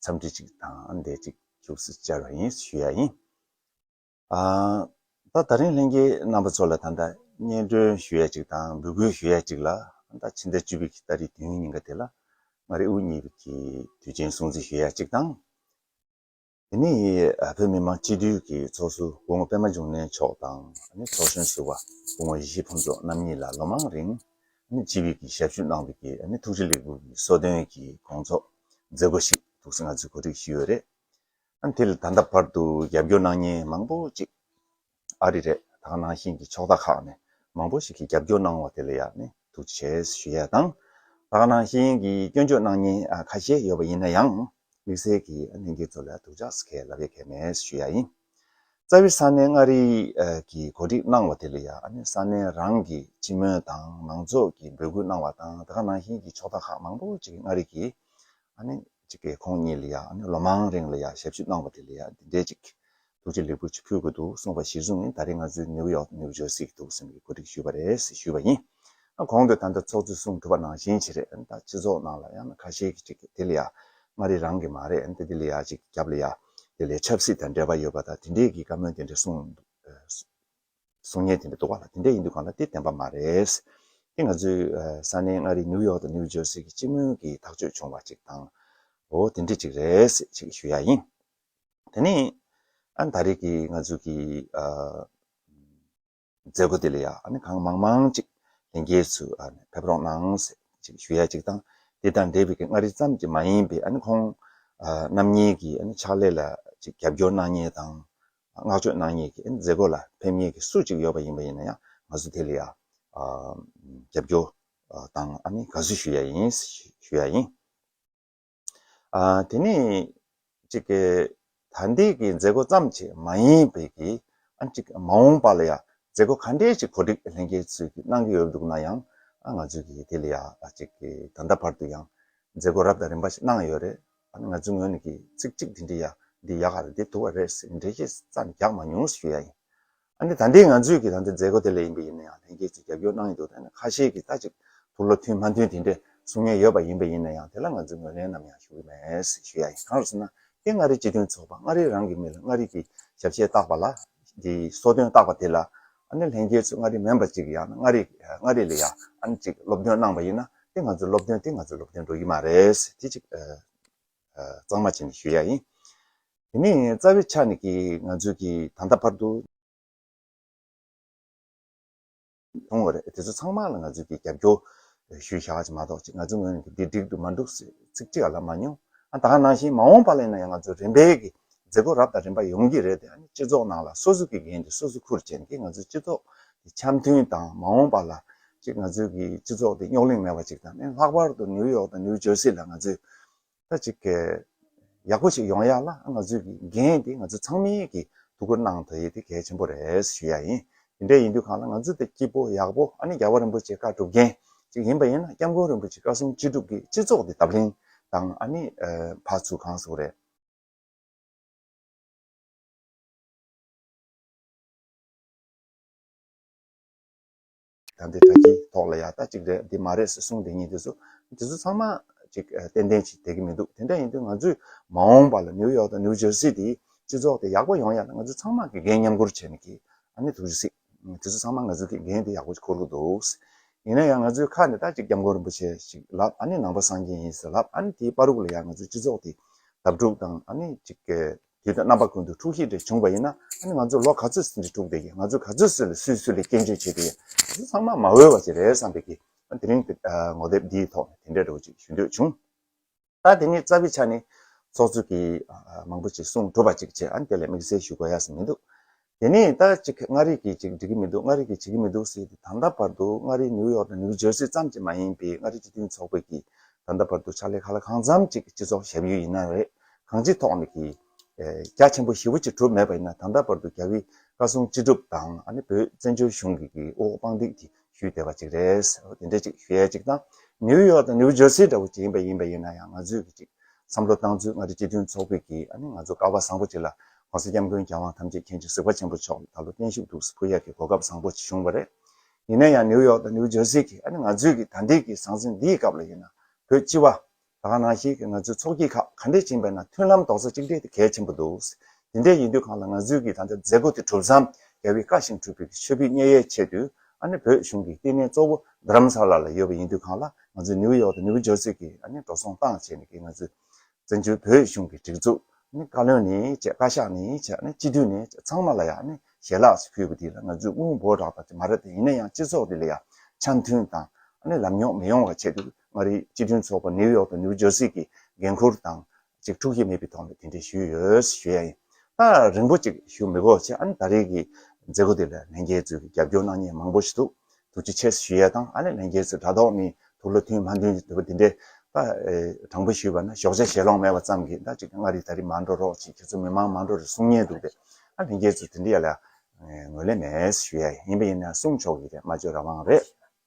འཚམས་འདྲི་ཅིག་དང་བསྡད་ཅིག་བཅུག་སུ་བཅར་བ་ཡིན་ཞུ་ཡ་ཡིན། ད་ད་རིང་ལྷན་རྒྱས་རྣམ་པ་ཚོ་ལ་ད་ལྟ་སྙན་སྒྲོན་ཞུ་ཡ་ཅིག་དང་འབུལ་སྐུལ་ཞུ་ཡ་ཅིག་ལ་ད་ཕྱི་ཟླ་བཅུ་བི་གི་ད་རི་དུས་ཡུན་ཉིན་ག་དེ་ལ་ང་རི་དབུ་གཉིས་བི་གི་དུས་ཆེན་སྲུང་བརྩི་ཞུ་ཡ་ཅིག་དང། དེ་ནི་བོད་མི་མང་སྤྱི་འཐུས་ཀྱི་ཚོགས་སུ་སྐུ་ངོ་པད་མ་འབྱུང་གནས་མཆོག་དང་ཚོགས་གཞོན་ཟུར་བ་སྐུ་ངོ་ཡེ་ཤེས་ཕུན་ཚོགས་རྣམ་གཉིས་ལ་ལོ་མང་རིང་སྤྱི་བི་གི་ཞབས་ཞུ་གནང་བི་གི་ཐུགས་རྗེ་ལེགས་འབུལ་གྱི་གསོལ་སྟོན་གྱི་དགོངས་རྫོགས། མཛད་སྒོ་ཞིག་ཐུགས་སྲས་ང་ཚོས་གོ་སྒྲིག་ཞུས་ཡོད་རེད། ཨ་དེ་ལ་ད་ལྟ་བར་དུ་རྒྱབ་སྐྱོར་གནང་མཁན་མང་པོ་ཅིག་ཨ་རི་རེད་དང་ནང་བཞིན་གྱི་ཕྱོགས་མཐའ་ཁག་ནས་མང་པོ་ཞིག་གིས་རྒྱབ་སྐྱོར་གནང་བ་དེ་ལ་ཡང་ནས་ཐུགས་རྗེ་ཆེ་ཞུ་ཡས་དང། དང་ནང་བཞིན་གྱི་སྐྱོན་བརྗོད་གནང་མཁན་ཁ་ཤས་ཡོད་པ་ཡིན་ན་ཡང་དམིགས་བསལ་གྱིས་ཨ་ནེ་འགྱིག་ཚོ་ལ་ཐུགས་ཅགས་ཁས་ལབ་ཡས་ཁས་མེད་ཞུ་ཡས་ཡིན། རྩ་བའི་ས་གནས་མངའ་རིས་ཀྱིས་གོ་སྒྲིག་གནང་བ་དེ་ལ་ཡང་ས་གནས་རང་གི་སྤྱི་སྨོན་དང་མང་ཚོགས་ཀྱིས་འབོད་སྐུལ་གནང་བ་དང་དེ་ག་ནང་བཞིན་གྱི་ཕྱོགས་མཐའ་ཁག་མང་པོ་ཅིག་གིས་མངའ་རིས་ཀྱིས་ཁོང་ཉིད་ལ་ཡང་ལོ་མང་རིང་ལ་ཡང་ཞབས་ཞུ་གནང་བ་དེ་ལ་ཡང་འདི་འདྲའི་ཅིག་ཐུགས་རྗེ་ལེགས་པོ་ཆུ་ཕུལ་དགོས་འདུག་གསུངས་པ་གཞིར་བཟུང་ནས་ད་རེས་ང་ཚོས་ནིའུ་ཡོག་ནིའུ་ཇོ་སི་གི་ཐུགས་བསམ་གྱི་གོ་སྒྲིག་ཞུས་པ་རེད་ཟེར་ཞུས་པ་ཡིན། གོང་དུ་ད་ལྟ་ཚོགས་གཙོས་གསུང་ཐུབ་པ་ནང་བཞིན་ཆེད་རེད་ད་སྤྱི་ཚོགས་ནང་ལ་ཡང་ཁ་ཤས་ཀྱིས་ཅིག་དེ་ལ་ཡང་མངའ་རིས་རང་གི་མ་རེད་དེ་ལ་ཡང་ཅིག་རྒྱབ་ལ་ཡང་དེ་ལས་ཆབ་སྲིད་དང་འབྲེལ་བ་ཡོད་པ་དང་དེ་འདྲས་ཀྱི་བཀའ་མོལ་དེ་འདྲས་གསུངས། གསུང་སྙན་དེ་འདྲས་འདུག་པ་ལ་དེ་འདྲས་ཡིན་དུས་གང་ལ་དེ་བདེན་པ་མ་རེད། དེ་ང་ཚོའི་ས་གནས་མངའ་རིས་ནིའུ་ཡོག་དང་ནིའུ་ཇོར་སི་གི་སྤྱི་མོས་ཀྱིས་ཐག་གཅོད་བྱུང་བ་ཅིག་དང་བོ་དེ་འདྲས་ཅིག་རེད་ཅེས་ཞུ་ཡ་ཡིན། དེ་ནས་ཨ་ནི་ད་རེས་ཀྱི་ང་ཚོའི་ཀྱི། མཛད་སྒོ་དེ་ལ་ཡང་གང་མང་མང་ཅིག་ལྷན་རྒྱས་སུ་ཕེབས་རོགས་གནང་ཞེས་ཞུ་ཡ་ཅིག་དང་དེ་དང་འབྲེལ་བའི་མངའ་རིས་ཙམ་གྱི་མ་ཡིན་པའི་ཁོང་རྣམ་གཉིས་ཀྱི་ཕྱག་ལས་ལ་ཅིག་རྒྱབ་སྐྱོར་གནང་ངེས་དང་བསྔགས་བརྗོད་གནང་ངེས་ཀྱི་མཛད་སྒོ་ལ་ཕེབས་ངེས་ཀྱི་སུ་ཅིག་ཡོད་པ་ཡིན་པ་ཡིན་ན་ཡང་ང་ཚོ་དེ་ལ་ཡང་རྒྱབ་སྐྱོར་དང་དགའ་བསུ་ཞུ་ཡ་ཡིན་ཞེས་ཞུ་ཡ་ཡིན། དེ་ནི་གཅིག་གི་ད་ལྟའི་གི་མཛད་སྒོ་ཙམ་གྱི་མ་ཡིན་པའི་གི་ཨ་གཅིག་མ་འོངས་པ་ལ་ཡང་མཛད་སྒོ་ག་འདྲའི་གཅིག་གོ་སྒྲིག་ལྷན་རྒྱས་ཚོས་གི་གནང་གི་ཡོད་འདུག་ན་ཡང་ཨ་ང་ཚོས་གི་དེ་ལ་ཡང་ཨ་གཅིག་གི་ད་ལྟ་བར་དུ་ཡང་མཛད་སྒོ་རབ་དང་རིམ་པ་ཞིག་གནང་ཡོད་རེད་ཨ་ནི་ང་ཚོའི་ངོས་ནས་གི་ཚིག་གཅིག་འདི་འདྲི་ཡ་འདི་ཡག་ག་རེད་འདི་དུ་བ་རེད་ཟེར་གི་འགྲེལ་བཤད་ཙམ་རྒྱག་མ་མྱོང་ཞུ་ཡ་ཡིན། ཨ་ནི་ད་འདི་ང་ཚོས་ཀྱི་ད་འདི་མཛད་སྒོ་དེ་ལས་ཡིན་པ་ཡིན་ན་ཡང་ལྷན་སྐྱེས་ཀྱིས་རྒྱབ་སྐྱོར་གནང་ཡི་འདུག་ད་ནི་ཁ་ཤས་ཀྱིས་ད་ཅིག་ཐུགས་བློ་མཐུན་མ་མཐུན་དེ་འདྲའི་གསུང་ཉན་ཡོད་པ་ཡིན་པ་ཡིན་ན་ཡང་དེ་ལ་ང་ཚོས་ངོས་ལེན་ནམ་ཡང་ཞུ་གི་མེད་ཞུ་ཡ་ཡིན་གང་རུ་སོང་ན་ཀྱེ་མངའ་རིས་སྤྱི་མཐུན་ཚོགས་པ་མངའ་རིས་རང་གི་མི་ལ་མངའ་རིས་ཀྱི་ཞབས་ཕྱི་བཏགས་པ་ལ་འདི་གསོལ་སྟོན་བཏགས་པ་དེ་ལ་ཨ་ནི་ལྷན་སྐྱེས་ཚོས་མངའ་རིས་མེན་པར་ཅིག་ཡང་ན་མངའ་རིས་མངའ་རིས་ལ་ཡང་ཨ་ནི་ཅིག་སློབ་སྟོན་གནང་པ་ཡིན་ན་ཀྱེ་ང་ཚོའི་སློབ་སྟོན་དེ་ང་ཚོའི་སློབ་སྟོན་འགྲོ་གི་མ་རེད་དེ་ཅིག་གཙང་མ་བྱས་ནས་ཞུ་ཡ་ཡིན། དེ་ནི་རྩ་བའི་ཆ་ནས་ཀྱིས་ང་ཚོས་ཀྱིས་ད་ལྟ་བར་དུ། མཐོང་བ་རེད་དེ་ཚོ་ཚང་མ་ལ་ང་ཚོས་ཀྱིས་རྒྱབ་སྐྱོར་ཞུ་བཞག་བྱེད་མ་གཏོགས་ཅི་ང་ཚོའི་ངོས་ནས་འདི་འགྲིག་འདུག་མ་འགྲུག་ཟེར་ཚིག་ཅིག་ལབ་མ་མྱོང། ད་ནང་བཞིན་མ་འོངས་པ་ལ་ཡིན་ན་ཡང་ང་ཚོའི་རིམ་པས་ཀྱིས་མཛད་སྒོ་རབ་དང་རིམ་པ་ཡོང་གི་རེད་དེ་ཡང་ནི་སྤྱི་ཚོགས་ནང་ལ་སོ་སོ་ཀྱི་འགན་དེ་སོ་སོ་ཁུར་བྱས་ནས་ཀྱིས་ང་ཚོའི་སྤྱི་ཚོགས་དེ་འཆམ་མཐུན་དང་མ་འོངས་པ་ལ་ཅིག་ང་ཚོའི་ཀྱིས་སྤྱི་ཚོགས་དེ་རྙོག་གླེང་མེད་པ་ཅིག་དང་ནི་ལྷག་པར་དུ་ནིའུ་ཡོག་དང་ནིའུ་ཇོར་སི་ལ་ང་ཚོས་ད་གཅིག་གི། ཡག་པོ་ཞིག་ཡོང་ཡག་ལ་ང་ཚོས་ཀྱི་འགན་དེ་ང་ཚོ་ཚང་མས་ཀྱི་ཐུགས་ཁུར་གནང་དགོས་ཡས་དེ་གལ་ཆེན་པོ་རེད་ཞུ་ཡག་ཡིན་དེ་འདྲ་ཡིན་དུས་གང་ལ་ང་ཚོ་དེ་སྐྱིད་པོ་ཡག་པོ་ཨ་ནི་རྒྱལ་བ་རིན་པོ་ཆེ་བཀའ་སྒྲུབ་མཁན་ཅིག་ཡིན་པ་ཡིན་ན་སྐྱབས་མགོན་རིན་པོ་ཆེ་བཀའ་སྲུང་ཅི་སྒྲུབ་ཀྱི་སྤྱི་ཚོགས་དེ་དབ་ལྷིང་དང་ཨ་ནི་ཕ་ཚུལ་གང་སུ་རེད། དམ་པའི་གྲགས་ཀྱིས་དོགས་ལ་ཡག་རྟགས་གཅིག་རེད་འདི་མ་རེད་ཟེར་གསུངས་དེ་གཉིས་དེ་ཚོ་དེ་ཚོ་ཚང་མ་ཅིག་ཏན་ཏན་ཅིག་དད་གི་མི་འདུག་དེ་འདྲ་ཡིན་དུས་ང་ཚོས་མ་འོངས་པ་ལ་ནིའུ་ཡོག་དང་ནིའུ་ཇར་སི་དེའི་སྤྱི་ཚོགས་དེ་ཡག་པོ་ཡོང་ཡ་ན་ང་ཚོས་ཚང་མ་གི་འགན་མཉམ་འཁུར་བྱེད་ནི་གི་ཨ་ནི་ཐུགས་རྗེ་སིག་དེ་ཚོ་ཚང་མ་ང་ཚོས་གི་འགན་དེ་ཡག་པོ་འཁུར་གི་འདུག་ཡིན་ན་ཡང་ང་ཚོའི་ཁ་ནས་རྟགས་གཅིག་སྐྱབས་མགོན་རིན་པོ་ཆེ་ཞིག་ལབ་ཨ་ནི་ནང་པ་སངས་རྒྱས་ཡིན་ཟེར་ལབ་ཨ་ནི་དེའི་པར་རུག་ལ་ཡང་ང་ཚོའི་སྤྱི་ཚོགས་དེ་དབབ་འཁྲུག་དང་ཨ་ནི་ཅིག། དེ་དང་རྣམ་པ་ཀུན་ཏུ་འཁྲུགས་ཤིང་འདྲེ་བྱུང་བ་ཡིན་ན་ཨ་ནི་ང་ཚོ་ལོ་ག་ཚོད་ཟིན་གྱི་འཁྲུགས་བསྡད་ཀྱི་ང་ཚོ་ག་ཚོད་བསུས་ལ་སུས་སུ་ལས་སྐྱོན་བརྗོད་བྱེད་དེ་ཡིན་དེ་ཚོ་ཚང་མ་མ་འོས་བ་ཞིག་རེད་བསམ་པའི་གིས་དེ་རིང་ངོ་དེབ་འདིའི་ཐོག་ནས་དེ་འདྲའི་རེ་བ་ཅིག་ཞུ་འདོད་བྱུང། ད་དེ་ནི་རྩ་བའི་ཆ་ནས། ཚོགས་གཙོས་གིས་མང་པོ་ཞིག་གསུངས་གྲུབ་པ་ཅིག་བྱས་ཨ་ནི་དེ་ལས་དམིགས་བསལ་ཞུ་དགོས་ཡ་ས་མི་འདུག་དེ་ནས་ད་ཅིག་མངའ་རིས་ཀྱིས་ཅིག་འགྲིག་གི་མི་འདུག་མངའ་རིས་ཀྱིས་བྱེད་ཀྱི་མི་འདུག་ཟེར་ཏེ་ད་ལྟ་བར་དུ་མངའ་རིས་ནིའུ་ཡོག་དང་ནིའུ་ཇར་སི་ཙམ་གྱིས་མ་ཡིན་པའི་མངའ་རིས་སྤྱི་མཐུན་ཚོགས་པས་ཀྱིས་ད་ལྟ་བར་དུ་ཕྱག་ལས་ཁ་ལ་གང་འཚམ་ཅིག་སྤྱི་ཚོགས་ཞབས་ཡུལ་ཡིན་ན་རེད་གང་ཅིའི་ཐོག་ནས་ཀྱིས་རྒྱ་ཆེན་པོ་ཞི་བོ་ཅིག་གྲུབ་མེད་པ་ཡིན་ན་ད་ལྟ་བར་དུ་རྒྱ་བོད་བཀའ་སྲུང་སྤྱི་སྒྲུབ་དང་ཨ་ནི་བོད་བཙན་བྱོལ་གཞུང་གི་གི་དབུ་འོག་དཔང་འདེགས་ཀྱིས་ཞུས་བདེ་བ་ཅིག་རེད། དེ་འདྲའི་ཅིག་ཞུ་ཡས་ཅིག་དང། ནིའུ་ཡོག་དང་ནིའུ་ཇར་སི་འདྲ་བོ་ཅིག་ཡིན་པ་ཡིན་པ་ཡིན་ན་ཡང་ང་ཚོས་ཀྱི་ཅིག་བསམ་བློ་བཏང་ཚུལ་མངའ་རིས་སྤྱི་མཐུན་ཚོགས་པས་ཀྱིས་ཨ་ནི་ང་ཚོ་ཀ་བ་བཟང་པོ་ཅིག་ལ ྋགོང་ས ྋསྐྱབས་མགོན་རྒྱལ་དབང་ཐམས་ཅད་མཁྱེན་བརྩེ་གཟིགས་པ་ཆེན་པོ་མཆོག་ལ་ད་ལོ་བརྟན་བཞུགས་འདུག་ཟེར་ཕུ་ཡག་གི་གོ་སྐབས་བཟང་པོ་ཅིག་བྱུང་བ་རེད། ཡིན་ན་ཡང་ནིའུ་ཡོག་དང་ནིའུ་ཇར་སི་ཀྱིས་ཨ་ནི་ང་ཚོས་ཀྱིས་ད་འདིའི་ཀྱི་ཟང་ཟིང་འདིའི་སྐབས་ལ་ཡིན་ན་བོད་སྤྱི་བ། ད་ག་ནང་བཞིན་ང་ཚོའི་ཚོགས་སྐྱིད་ཁག་ག་འདྲས་བྱིངས་པས་ན་མཐུན་ལམ་རྡོག་རྩ་གཅིག་སྒྲིལ་དེ་གལ་ཆེན་པོ་འདུག། དེ་འདྲས་ཡིན་དུས་གང་ལ་ང་ཚོའི་གིས་ད་ལྟ་མཛད་སྒོ་དེ་གྲུབ་མཚམས་རྒྱལ་བའི་བཀའ་ཞིང་འཁྲུལ་པའི་ཆོས་སྐུའི་བརྙེ་ཡའི་ཆེད་དུ་ཨ་ནི་བོད་གཞུང་གི་ལྟེ་གནས་གཙོ་བོ་རྡརམ་ས་ལ་ལ་ཡོད་པ་ཡིན་དུས་གང་ལ་ང་ཚོའི་ནིའུ་ཡོག་དང་ནིའུ་ཇོར་སི་གིས་ཨ་ནི་འགྲོ་སོང་བཏང་བྱས་ནས་གིས་ང་ཚོའི་བཙན་བྱོལ་བོད་གཞུང་གི་སྒྲིག་འཛུགས་ཨ་ནི་བཀའ་བློན་ནས་བཅས་བཀའ་ཤག་ནས་བཅས་ཨ་ནི་སྤྱི་འཐུས་ནས་བཅས་ཚང་མ་ལ་ཡང་ཨ་ནི་ཞལ་ལགས་སུ་ཕུལ་བ་དེ་ལ་ང་ཚོའི་དངུལ་འབོར་རག་པ་དེ་མ་རེད་ད་ཡིན་ན་ཡང་སྤྱི་ཚོགས་འདི་ལ་ཡང་ཆ་མཐུན་དང་ཨ་ནི་ལམ་ཉོག་མི་ཡོང་བ་ཆེད་དུ་མངའ་རིས་སྤྱི་མཐུན་ཚོགས་པ་ནིའུ་ཡོག་དང་ནིའུ་ཇོར་སི་གི་འགན་ཁུར་དང་གཅིག་འཁྲུག་ཡས་མེད་པའི་ཐོག་ནས་དེ་འདྲས་ཞུས་ཡོད་ཞུས་ཡ་ཡིན། ད་རིང་པོ་གཅིག་ཞུ་མི་དགོས་ཕྱིར་ཨན་ད་རེས་ཀྱི་མཛད་སྒོ་དེ་ལ་ལྷན་རྒྱས་གཙོས་ཀྱི་རྒྱབ་སྐྱོར་གནང་མཁན་མང་པོ་ཞིག་འདུག་ཐུགས་རྗེ་ཆེ་ཞུས་ཡ་དང་ཨ་ནི་ལྷན་རྒྱས་གཙོས་དྲ་ཐོག་ནས་ཐུགས་ལ་མཐུན་མ་མཐུན་དེ་བ་དེ་འདྲས་ད་དྲང་པོ་ཞུས་པ་ན་ཞོགས་ཇ་ཞེ་ལོང་མེད་པ་ཙམ་གྱིས་ད་གཅིག་མངའ་རིས་ད་རེས་མ་འགྲོ་རོགས་ཅིག་ཁྱེད་ཚོ་མི་མང་མ་འགྲོ་རེ་གསུང་ཉེན་འདུག་པས་ཨ་ལྷན་རྒྱས་གཙོས་དེ་འདྲས་ཡ་ལ་ངོས་ལེན་མེད་ཞུས་ཡ་ཡིན་པ་ཡིན་ན་གསུང་ཆོག་གི་རེད་སྨྲ་བརྗོད་རང་དབང་རེད།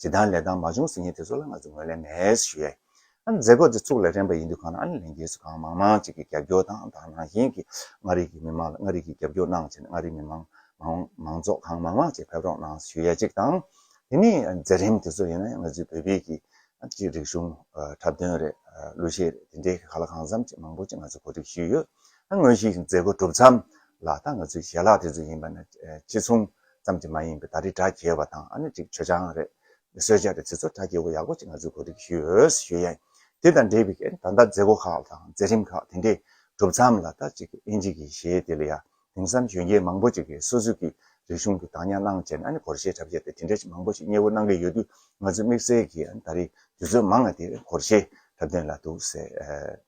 ཇི་ལྟར་ལས་དང་མ་བྱུང་ཟིན་ཡིན་དེ་ཚོ་ལ་ང་ཚོས་ངོས་ལེན་མེད་ཞུ་ཡས། ཨ་ནི་མཛད་སྒོ་འདི་ཚུགས་ལ་རན་པ་ཡིན་དུས་གང་ན་ཨ་ནི་ལས་འགན་སུ་གང་མང་མང་ཅིག་གི་རྒྱབ་སྐྱོར་དང་དང་ནང་བཞིན་གྱི་མངའ་རིས་ཀྱི་མི་མང་ལ་མངའ་རིས་ཀྱི་རྒྱབ་སྐྱོར་གནང་བྱས་ནས་མངའ་རིས་མི་མང་མང་མང་ཚོགས་གང་མང་མང་ཅིག་ཕེབས་རོགས་གནང་ཞུ་ཡས་ཅིག་དང། དེ་ནས་མཛད་རིམ་དེ་ཚོ་ཡིན་ན་ཡང་ང་ཚོའི་བོད་པའི་གི་གཅིག་རིག་གཞུང་འཁྲབ་སྟོན་རེད་གླུ་གཞས་རེད་དེ་འདྲའི་གི་ག་ལ་གང་འཚམ་ཅིག་མང་པོ་ཅིག་ང་ཚོས་གོ་སྒྲིག་ཞུས་ཡོད། ད་དངོས་གཞིའི་མཛད་སྒོ་གྲུབ་མཚམས་ལ་ད་ང་ཚོའི་ཞལ་ལག་དེ་ཚོ་ཡིན་པ་ན་ཅི་མཚུངས། ཙམ་གྱི་མ་ཡིན་པའི་ད་རེས་དྲ་རྒྱའི་བ་དང་ཨ་ནི་ཅིག་ཆོས་ཅང་རེད། སོས་ཅག་རེད་དེ་ཚོ་དྲ་རྒྱའི་བ་ཡག་པོ་ཅིག་ང་ཚོའི་གོ་སྒྲིག་ཞུས་ཡོད་ཞུས་ཡ་ཡིན། དེ་དང་འབྲེལ་བའི་ད་ལྟ་མཛད་སྒོ་ཁག་དང་མཛད་རིམ་ཁག་དེ་འདྲས་གྲུབ་མཚམས་ལ་ད་ཅིག་ཨིན་ཇི་གི་ཞེས་དེ་ལ་ཡ་དེང་སང་གཞོན་སྐྱེས་མང་པོ་ཅིག་གིས་སོ་སོའི་གིས་རིག་གཞུང་གི་དང་ཉར་གནང་བྱས་ནས་ཨ་ནི་གོར་ཞེས་གྲབས་བྱས་ཏེ་དེ་འདྲས་ཅིག་མང་པོ་ཞིག་གཉེ་བོ་གནང་གི་ཡོད་དུས་ང་ཚོའི་དམིགས་བསལ་གྱིས་ཨ་ནི་ད་རེས་དུས་ཚོད་མང་ང་དེ་གོར་ཞེས་གྲབས་དོན་ལ་འདུག་ཟེར།